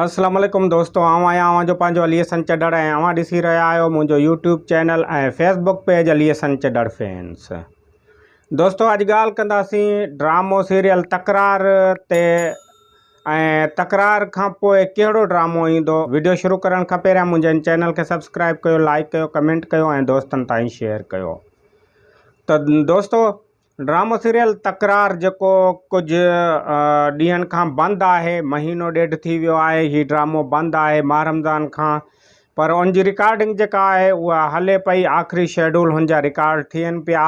اسلام عليڪم دوستو آئون آهيان اوهان جو پنهنجو علي حسن چڏڙ ۽ اوهان ڏسي رهيا آهيو منهنجو YouTube channel ۽ Facebook page Ali Hassan Chhadar fans دوستو اڄ ڳالهه ڪنداسين ڊرامو سيريل تڪرار تي ۽ تڪرار کان پوء ڪهڙو ڊرامو ايندو ويڊيو شروع ڪرڻ کان پهريان منهنجي ان چينل کي سبسڪرائب ڪيو لائڪ ڪيو ڪمينٽ ڪيو ۽ دوستن تائين شيئر ڪيو ته دوستو ڊرامو سيريل تڪرار جيڪو ڪجهه ڏينهن کان بند آهي مهينو ڏيڍ ٿي ويو آهي هي ڊرامو بند آهي ماهه رمضان کان پر ان جي رڪارڊنگ جيڪا آهي اها هلي پئي آخري شيڊول هن جا رڪارڊ ٿين پيا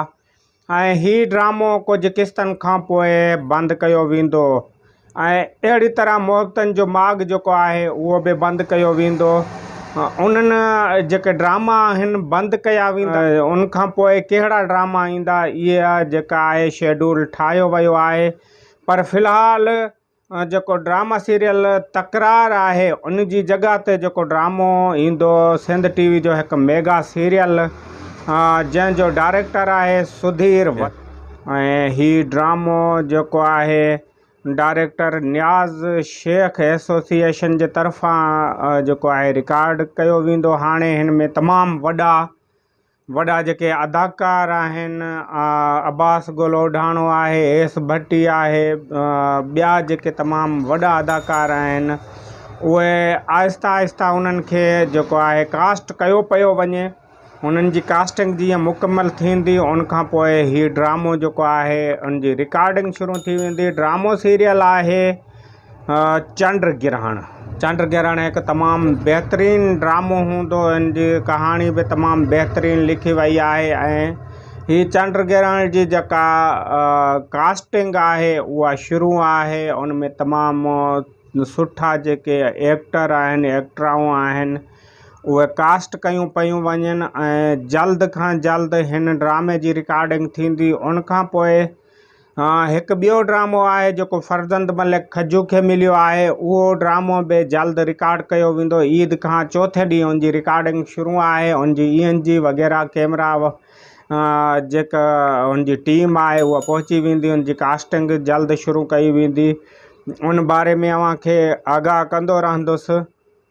۽ هي ڊرامو ڪجهه قسطن کان پوء بند ڪيو ويندو ۽ اهڙي طرح محبتن جو ماڳ جيڪو آهي اهو به بند ڪيو ويندو. انهن جيڪي ڊراما آهن بند ڪيا ويندا. ان کان پوء ڪهڙا ڊراما ايندا اهي جيڪا آهي شيڊول ٺاهيو ويو آهي پر في الحال جيڪو ڊراما سيريل تڪرار آهي ان جي جڳهه تي جيڪو ڊرامو ايندو سنڌ ٽي وي جو هڪ ميگا سيريل جنهن جو ڊائريڪٽر آهي سڌير ۽ هي ڊرامو جيڪو آهي ڊائريڪٽر نياز شيخ ايسوسيئيشن جي طرفان جيڪو آهي رڪارڊ ڪيو ويندو هاڻي هن ۾ تمام وڏا وڏا جيڪي اداڪار آهن عباس گولوڊاڻو آهي ايس ڀٽي آهي ٻيا جيڪي تمام وڏا اداڪار آهن اهي آهستي آهستي انهن کي جيڪو آهي ڪاسٽ ڪيو پيو وڃي انهن جي ڪاسٽنگ جيئن مڪمل ٿيندي ان کان پوء هي ڊرامو جيڪو آهي ان جي رڪارڊنگ شروع ٿي ويندي ڊرامو سيريل آهي چنڊ گرهڻ چنڊ گرهڻ هڪ تمام بهترين ڊرامو هوندو ان جي ڪهاڻي به تمام بهترين لکي وئي آهي ۽ هي چنڊ گرهڻ جي جيڪا ڪاسٽنگ آهي اها شروع آهي ان ۾ تمام سٺا جيڪي ايڪٽر آهن ايڪٽرائون آهن اهي ڪاسٽ ڪيون پيون وڃن ۽ جلد کان جلد هن ڊرامي جي رڪارڊنگ ٿيندي ان کان پوء هڪ ٻيو ڊرامو آهي جيڪو فرزند ملڪ کجو کي مليو آهي اهو ڊرامو به جلد رڪارڊ ڪيو ويندو عيد کان چوٿين ڏينهن ان جي رڪارڊنگ شروع آهي ان جي اي اين جي وغيره ڪيمرا جيڪا ان جي ٽيم آهي اها پهچي ويندي ان جي ڪاسٽنگ جلد شروع ڪئي ويندي ان باري ۾ اوهان کي آگاهه ڪندو رهندس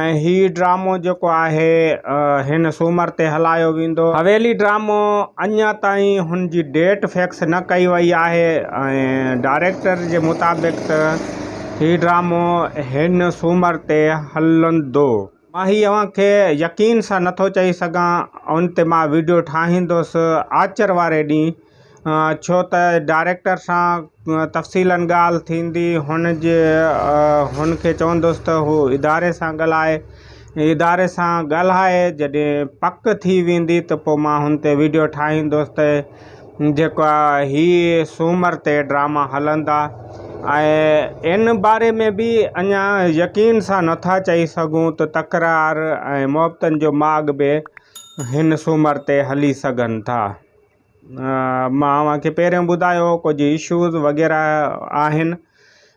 ۽ هي ڊرامو جيڪو آهي هن سومر تي هلايو ويندو. حويلي ڊرامو اڃا تائين هن جي ڊيٽ فڪس نه ڪئي وئي آهي ۽ ڊائريڪٽر جي مطابق ته هي ڊرامو هن سومر تي هلندو. مان هي اوهان کي يقين سان نٿو چئي سگهان ان تي مان ويڊيو ٺاهيندوس آچر واري ڏينهن. ڇو ته ڊائريڪٽر سان تفصيلن ڳالهه ٿيندي هن جي هن کي چوندس ته هو اداري سان ڳالهائي اداري سان ڳالهائي جڏهن پڪ ٿي ويندي ته پوء مان هن تي ويڊيو ٺاهيندس ته جيڪا هي سومر تي ڊراما هلندا ۽ ان باري ۾ به اڃا يقين سان نٿا چئي سگهون ته تڪرار ۽ محبتن جو ماڳ به هن سومر تي هلي سگهن ٿا مان اوهان کي پهريون ٻڌايو ڪجهه ايشوز وغيره آهن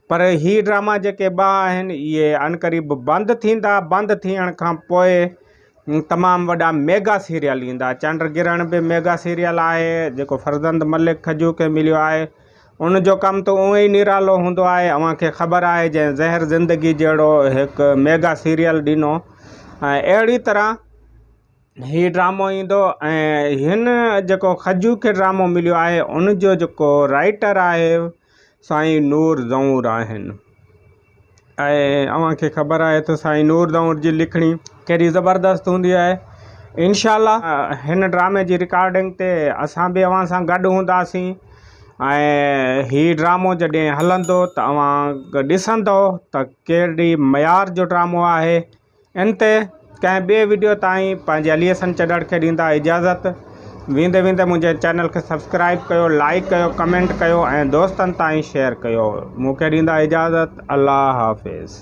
پر هي ڊراما جيڪي ٻه آهن اهي عن قريب بند ٿيندا بند ٿيڻ کان پوء تمام وڏا ميگا سيريل ايندا چنڊ گرهڻ به ميگا سيريل آهي جيڪو فرزند ملڪ کجو کي مليو آهي ان جو ڪم ته اونئي نرالو هوندو آهي اوهان کي خبر آهي جنهن زهر زندگي جهڙو هڪ ميگا سيريل ڏنو ۽ اهڙي طرح هي ڊرامو ايندو ۽ هن جيڪو خجو کي ڊرامو مليو آهي ان جو جيڪو رائيٽر آهي سائين نور زئونر آهن ۽ اوهان کي خبر آهي ته سائين نور زئونر جي لکڻي ڪهڙي زبردست هوندي آهي انشاء الله هن ڊرامي جي رڪارڊنگ تي اسان به اوهان سان گڏ هونداسين ۽ هي ڊرامو جڏهن هلندو ته اوهان ڏسندو ته ڪهڙي معيار جو ڊرامو آهي ان تي ڪنهن ٻئي وڊيو تائين پنهنجي علي حسن چڏڙ کي ڏيندا اجازت ويندي ويندي منهنجي چينل کي سبسڪرائب ڪيو لائيڪ ڪيو ڪمينٽ ڪيو ۽ دوستن تائين شيئر ڪيو مون کي ڏيندا اجازت الله حافظ.